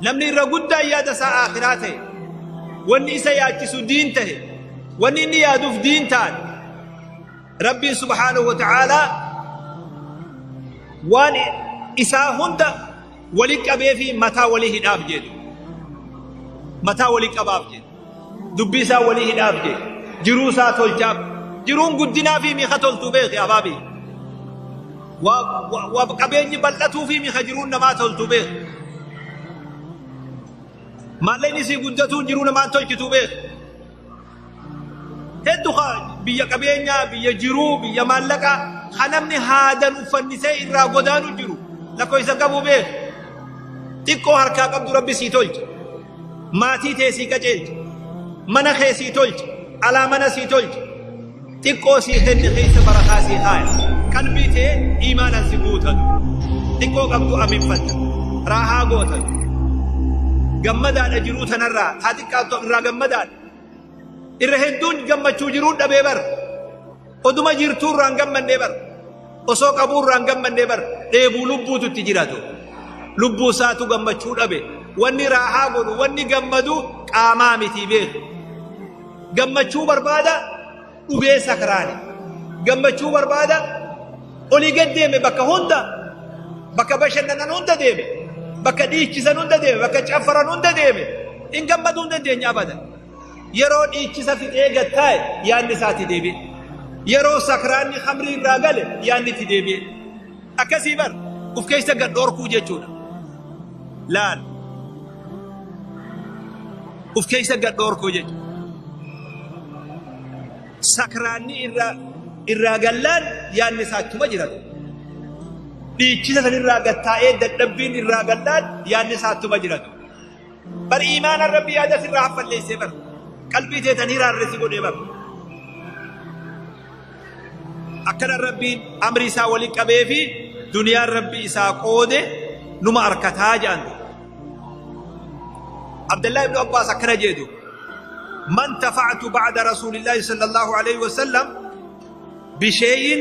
Namni irra guddaan yaada isaa aakhiraa ta'e, wanni isa yaachisu diin ta'e, wanni inni yaaduuf diin ta'an, Rabbiin subhaanahu wa ta'aalaa waan isaa hunda wali qabee fi mataa wali hidhaaf jedhu. Mataa wali qabaaf jedhu. dubbii isaa walii hidhaaf jee jiruu isaa tolchaaf jiruun guddinaa fi miika toltuu beeki abaabii waa qabeenyi bal'atuu fi miika jiruun namaa toltuu beeki maalleen isii guddatuun jiruu namaan tolchituu beeki hedduu biyya qabeenyaa biyya jiruu biyya maallaqaa kan namni haadan uffannisee irraa godaanu jiru lakkoofsa qabu beeki xiqqoo harkaa qabdu rabbi sii tolcha Maatii tee sii qajeelcha. Mana kee sii tolcha. Alaa mana sii tolcha. Xiqqoo sii kenne keessa barakaa sii kaaya. Qalbii tee iimaanaan si guutan. Xiqqoo qabdu aminfatta. Raahaa gootan. Gammadaadha jiruu tanarraa. Haa xiqqaattu irraa gammadaadha. Irra hedduun gammachuu jiruu dhabee bara. Oduma jirtuu irraa hin gammannee bar. Osoo qabuu irraa hin gammannee bar. Dheebuu lubbuutu itti jiraatu. Lubbuu isaatu gammachuu dhabe. Wanni raahaa godhu, wanni gammadu qaamaa miti beeku. Gammachuu barbaada dhugee sakraani. Gammachuu barbaada olii gad deeme bakka hunda bakka bashannanan hunda deeme bakka dhiichisan hunda deeme bakka caffaran hunda deeme hin gammaduu hin dandeenye abadan. Yeroo dhiichisa fixee gad taa'e yaanni isaa itti deebi'e. Yeroo sakraanni khamrii irraa gale yaanni itti deebi'e. Akkasii bar uf keessa gad dhorkuu jechuudha. Laal. Uf keessa gad dhorkuu jechuudha. Sakraanni irraa irraa gallaan yaanni isaa ittuma jirata. Dhiichisa san irraa gad taa'ee dadhabbiin irraa gallaan yaanni isaa ittuma jirata. bar iimaanaan rabbi yaada sirraa haffalleessee bar qalbii teetan hiraarresi godhee bar akkana rabbiin amri isaa waliin qabee fi duniyaan rabbi isaa qoode numa arkataa jedhan abdallaa ibnu abbaas akkana jedhu man tafa'atu ba'da rasuulillaahi sallallahu alaihi wasallam bishay'in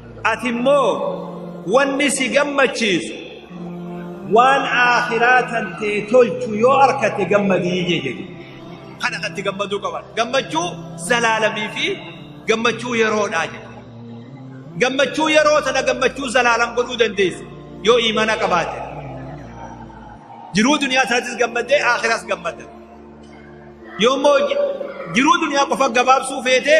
ati immoo wanni si gammachiisu waan aakhiraa tantee tolchu yoo arkatte gammadii jee jedhe kana katti gammaduu qaban gammachuu zalaalamii fi gammachuu yeroodhaa jedhe gammachuu yeroo tana gammachuu zalaalam godhuu dandeessa yoo iimana qabaate jiruu duniyaa taatis gammaddee aakhiras gammadda yoo immoo jiruu duniyaa qofa gabaabsuu feetee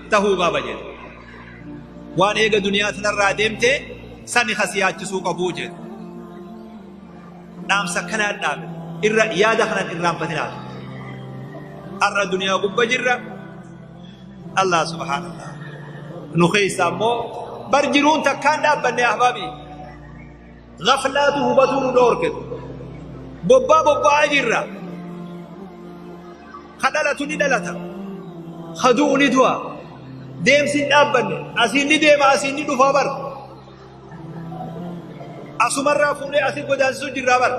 tahuu qaba jedhe waan eega duniyaa tanarraa deemte sani kasi yaachisuu qabuu jedhe dhaamsa kanaan dhaabe irra yaada kanan irraanfatinaaf har'a duniyaa gubba jirra allah subhaanallah nu keessa ammoo bar jiruun takkaan dhaabbanne ahbaabii gaflaatu hubatuu nu dhoorke bobbaa bobba'aa jirra ka dhalatu ni dhalata ka du'u ni du'a deemsi hin dhaabbanne asiin ni deema asiin ni dhufaa bara asumarraa fuunee asii godaansisuu jirraa bara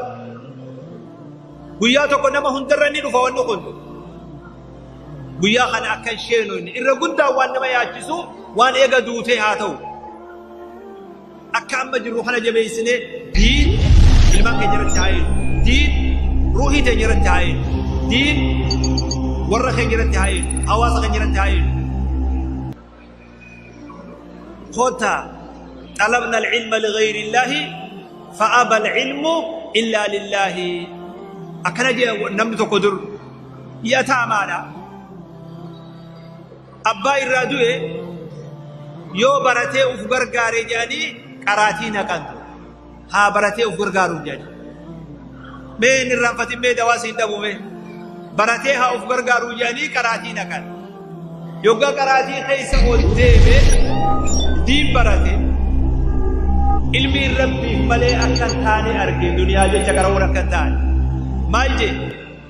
guyyaa tokko nama hundarra ni dhufa wanni kun guyyaa kana akka hin sheenu inni irra guddaa waan nama yaachisu waan eega duutee haa ta'u Akka amma jirru kana jabeessinee diin ilmaan keenya irratti haa eegnu. Diin ruuhii teenya irratti haa eegnu. Diin warra keenya irratti haa eegnu. Hawaasa keenya irratti haa eegnu. Kota xalabna al-ilma lighayri illaahi fa'aba al-ilmu illaa lillaahi. Akkana jee namni tokko dur yataamaadha. Abbaa irraa du'e yoo baratee uf gargaare jedhanii qaraatii naqan ture. Haa baratee uf gargaaruuf jedhanii. Mee hin irraanfatin mee dawaa siin dhabu mee. Baratee haa uf gargaaruuf jedhanii qaraatii naqan. Yoggaa qaraatii keessa ol deeme diin barate ilmi rabbiif malee akka hin taane arge duniyaa jecha qaramuun akka hin taane. Maal jedhe?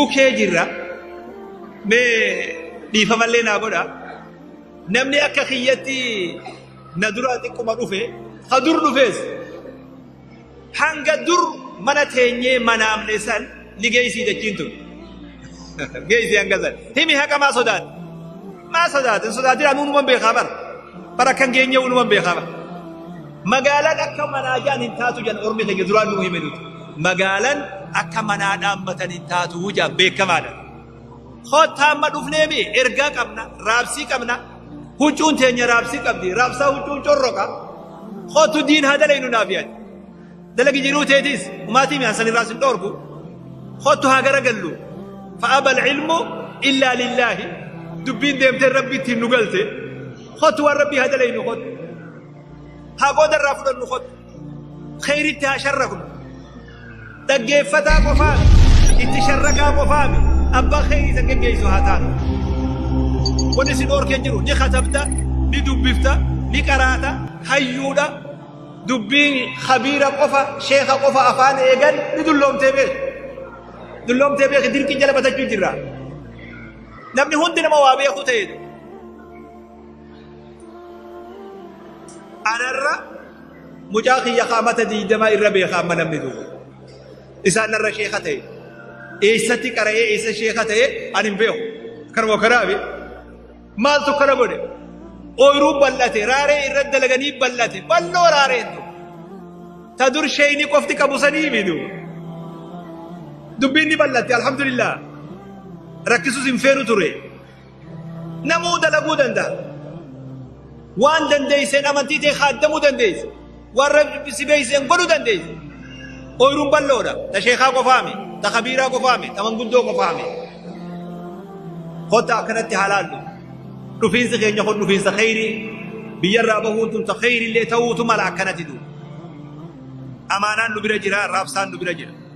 UK jirra. Mee dhiifamallee naa godha. Namni akka kiyyatti na duraa xiqquma dhufe, ha dur dhufes. Hanga dur mana teenyee manaamne san ni geessii dachiin tun. Geessii hanga san. Himi haqa maa sodaate? Maa sodaate? Hin sodaatin anu unuman beekaa bara. Bara akkan geenyee unuman beekaa bara. Magaalaan akka manaa jaan hin taatu jan ormi keenya duraan nuu hime nuti. Magaalaan akka manaa dhaammatan hin taatu jaan beekamaadha. Kottaa amma dhufnee mi ergaa qabna, raabsii qabna. Huccuun teenya raabsii qabdi, raabsaa huccuun corroqa. Kottu diin haa dalaynu naaf yaadi. Dalagi jiruu teetis umaatii mi'aan san irraas hin dhoorgu. Kottu haa garagallu. Fa'aba ilmu illaa lillaahi. Dubbiin deemtee rabbi ittiin nu galte. Kottu waan rabbii haa dalaynu kottu. haa qooda irraa fudhannu kottu kheyritti haa sharrafnu dhaggeeffataa qofaa itti sharrakaa qofaa mi abbaa kheyrii isa geggeessu haa taanu wanni si dhoorkee jiru ni katabta ni dubbifta ni qaraata hayyuudha dubbiin khabiira qofa sheeka qofa afaan eegan ni dulloomtee beeku dulloomtee beeku dirqii jala batachuu jirra namni hundi nama waa beeku ta'eedha Anarra mucaa kiyya kaamata diidamaa irra beeka amma namni duuba. Isaan narra sheeka ta'e. Eessatti qara'ee eessa sheeka ta'e ani hin beeku. Kanuma kanaafi maaltu kana godhe? Ooyiruu bal'ate raaree irra dalaganii bal'ate bal'oo raareen tu. Ta dur sheeyni qofti qabu sanii miidhu. Dubbiin ni bal'atte alhamdulillah. Rakkisuus hin feenu ture. namuu dalaguu danda'a. Waan dandeesseen amantii ta'e haaddamuu dandeessa. Waan rabbi si beeksiseen godhuu dandeessa. Ooyiruun bal'oodha. Ta sheekaa qofaame, ta kabiiraa qofaame, ta manguddoo qofaame. Kottaa akkanatti haalaallu. Dhufiinsi keenya kun dhufiinsa kheyrii biyyarraa bahuun tun ta kheyrillee ta'uutu mala akkanatti duuba. Amaanaan nu bira jira, raabsaan nu bira jira.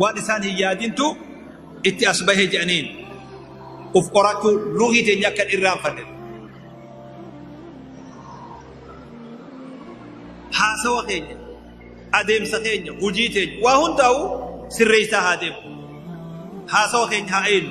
waan isaan hin yaadintu itti as bahe jedhaniin uf qorachuu ruuhii teenya akka hin irraanfanne haasawa keenya adeemsa keenya hujii teenya waa hundaa'u sirreessaa haa deemu haasawa keenya haa eenu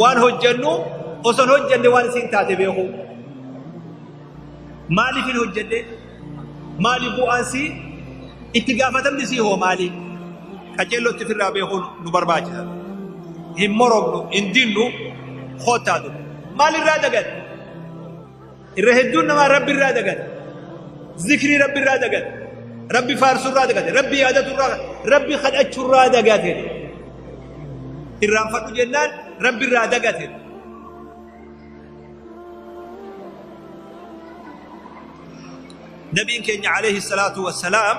Waan hojjennu osoo hin hojjenne waan isiin taate beekuu. Maaliif hin hojjenne? Maali bu'aan sii? Itti gaafatamni sii hoo maali? Qajeellotti firraa beekuun nu barbaachisa. Hin moromnu, hin dinnu, kottaa dubbi. Maalirraa dagadde? irra hedduun namaa rabbi irraa dagate zikrii rabbi irraa dagate rabbi faarsuu irraa dagate rabbi yaadatu irraa rabbi kadhachuu irraa dagate irraanfadhu jennaan rabbi irraa dagate nabiin keenya alayhi salaatu wassalaam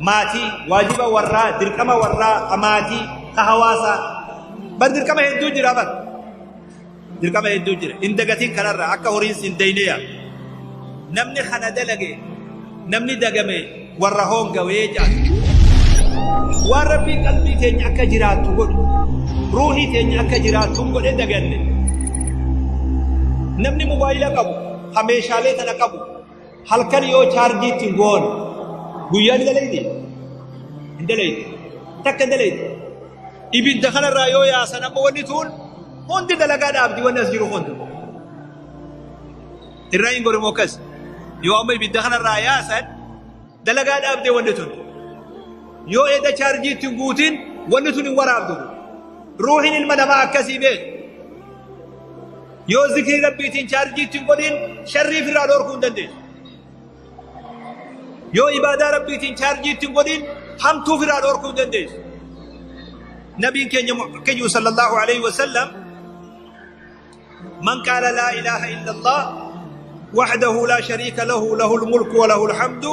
maatii, waajiba warraa, dirqama warraa, ka maatii, ka hawaasaa. Bar dirqama hedduu jira bar. Dirqama hedduu jira. Hin dagatiin kanarra akka horiin sin dayne yaa. Namni kana dalage, namni dagame warra hoongawee jaatu. Waan rabbiin qalbii teenya akka jiraattu godhu, ruuhii teenya akka jiraattu godhe daganne. Namni mobaayila qabu, ka meeshaalee tana qabu, halkan yoo chaarjii ittiin goon guyyaa ni dalayti hin dalayti takka hin dalayti ibidda kanarraa yoo yaasan amma wanni tuun hundi dalagaa dhaabdi wanni as jiru hundi irraa hin gorimoo akkas yoo amma ibidda kanarraa yaasan dalagaa dhaabdee wanni tun yoo edda chaarjii ittiin guutin wanni tun hin waraabdu ruuhin ilma namaa akkasii beeku Yoo zikrii rabbiitiin chaarjii ittiin godhiin sharrii firraa dhoorkuu hin dandeessu. Yoo ibaadaa rabbiitiin chaarjii ittiin godhiin hamtuu firraa dhoorkuu hin dandeessu. Nabiin keenya keenya sallallahu alaihi wasallam man qaala laa ilaaha illallah wahdahu laa shariika lahu lahul mulku wa lahul hamdu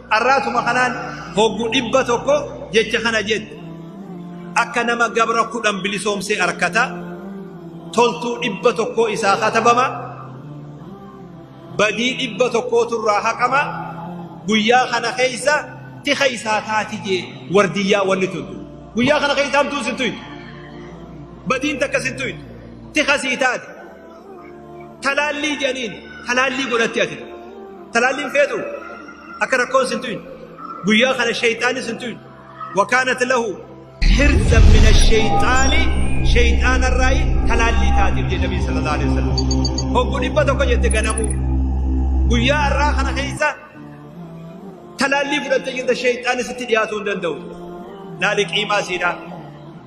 Arraatuma kanaan hoggu dhibba tokko jecha kana jette. Akka nama gabra kudhan bilisoomsee arkata. Toltuu dhibba tokkoo isaa katabama. Badii dhibba tokkootu irraa haqama. Guyyaa kana keessa ti keessaa taati jee wardiyyaa wanni tuntu. Guyyaa kana keessa hamtuu sittu Badiin takka sittu ti kasii taati. Talaallii jedhaniin talaallii godhatti ati. Talaalliin feetu akka rakkoon sin tuyin. Guyyaa kana sheeyxaanni sin tuyin. Wakaanat lahu hirzan mina sheeyxaani sheeyxaanarraayi talaallii taatiif jedhe Nabii sallallahu alaihi wasallam. Hoggu dhibba tokko jette ganamuu. Guyyaa har'aa kana keessa talaallii fudhattee jirta sheeyxaanni sitti dhiyaatuu hin danda'u. Laali qiimaa siidhaa.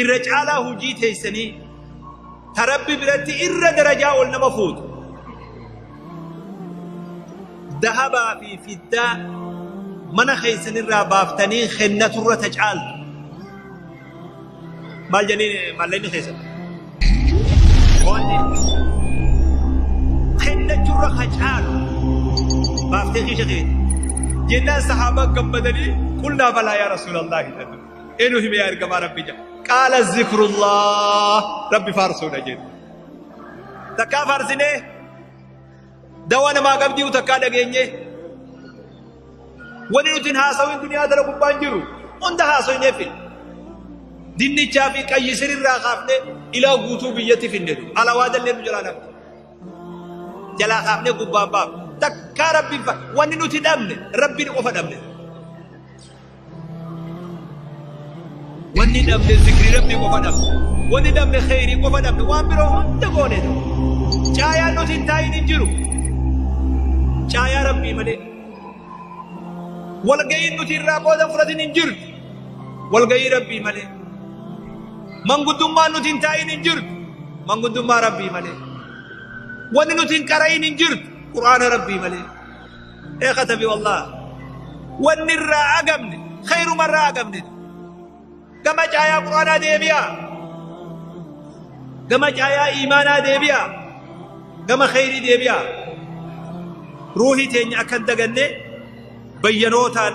irra caalaa hujii teeysanii ta rabbi biratti irra darajaa ol nama fuutu dahabaa fi fiddaa mana keeysan irraa baaftanii kennatu irra ta caaltu maal janii malleenni keeysan kennachu irra ka caalu baaftee kiisha keeti jennaan sahaabaa gammadanii qulnaa balaa yaa rasuulallaahi jedhan enu hime yaa ergamaa rabbi jedha qaala zikrullah rabbi faarsuudha jedhu takkaa faarsinee dawaa namaa qabdiu takkaa dhageenye wani nutin haasawin duniyaa tana gubbaan jiru hunda haasoyne fi dinnichaa fi qayyisir irraa kaafne ilaa guutuu biyyatti finne alawaa dallee nu jalaa dhabne jalaa kaafne gubbaan baaf takkaa rabbiin fa wanni nuti dhabne rabbiin qofa dhabne Wanni dhabne zikrii rabbi qofa dhabne. Wanni dhabne kheyrii qofa dhabne. Waan biroo hunda goone. Caayaan nuti hin taa'in hin jiru. Caayaa rabbii malee. Walga'iin nuti irraa qooda fudhatin hin jirtu. Walga'ii rabbii malee. Manguddummaan nuti hin taa'in hin jirtu. Manguddummaa rabbii malee. Wanni nuti hin qara'in hin jirtu. Qur'aana rabbii malee. Ee katabi wallaah wanni irraa agamne khayruma irraa agamne gama caayaa quraanaa deebi'a gama caayaa iimaanaa deebi'a gama khayrii deebi'a ruuhii teenya akkan daganne bayyanootaan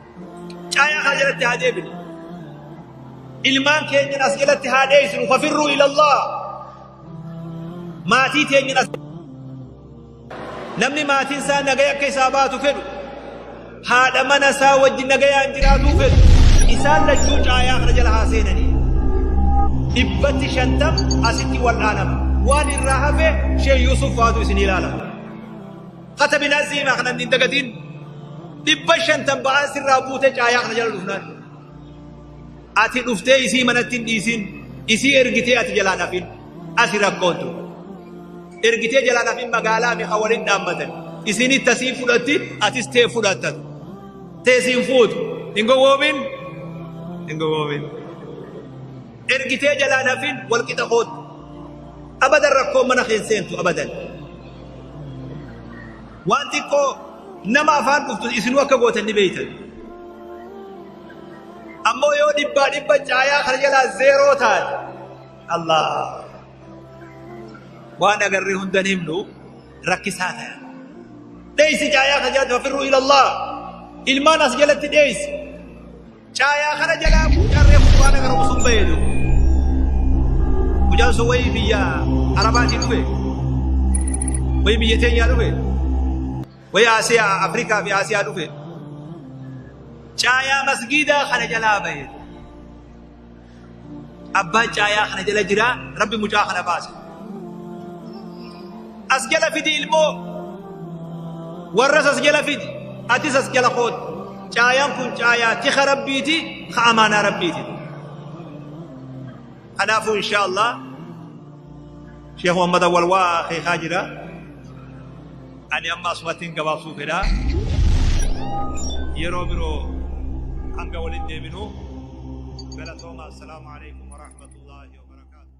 Caayaa kana jalatti haa deebinu. Ilmaan keenyan as jalatti haa dheessinu. Fafirruu ilallah. Maatii teenyan as Namni maatiin isaa nagaya akka isaa baatu fedhu. Haadha mana isaa wajjin nagayaan jiraatuu fedhu. Isaan lachuu caayaa kana jala haa seenanii. Dhibbatti shantam asitti wal'aanama. Waan irraa hafe Sheekh Yuusuf faatu isin ilaalama. Katabilaa siimaa kana hin dagatiin dhibba shantan ba'aa sirraa buute caayaa kana jala dhufnaan. Ati dhuftee isii manatti hin dhiisin isii ergitee ati jalaa dhafin asi rakkoon ture. Ergitee jalaa dhafin magaalaa mi'a waliin dhaabbatan isin itti asii fudhatti atis tee fudhattan. Teesiin fuutu hin gowwoomin hin gowwoomin. Ergitee jalaa dhafin wal qixa kootu. Abadan rakkoon mana keessa seentu abadan. Waan xiqqoo nama afaan dhuftu isinuu akka gootan ni beektan. Ammoo yoo dhibbaa dhibba caayaa kana jalaa zeeroo taate Allah waan agarree hundan himnu rakkisaa ta'a. Dheessi caayaa kana jalatti fafirruu ilallah ilmaan as jalatti dheessi. Caayaa kana jalaa mucaan reefu quraana qara'u sun bahee jiru. Mucaan sun wayii biyya Arabaatii dhufe. Wayii biyya teenyaa dhufe. Wayii Asiyaa Afrikaa fi Asiyaa dhufe. Caayaa masgiidaa kana jalaa bahee. Abbaan caayaa kana jala jira rabbi mucaa kana baase. As jala fidi ilmoo warras as jala fidi atis as jala kooti. Caayaan kun caayaa tika rabbiiti ka amaanaa rabbiiti. Kanaafuu inshaa Allah Sheekh Muhammad Awwal waa akeekaa jira. Ani amma asumattin gabaabsuu fedha. Yeroo biroo hanga walitti deebinu galatoomaa. Assalaamu alaikum warahmatullaahi wabarakaatuh.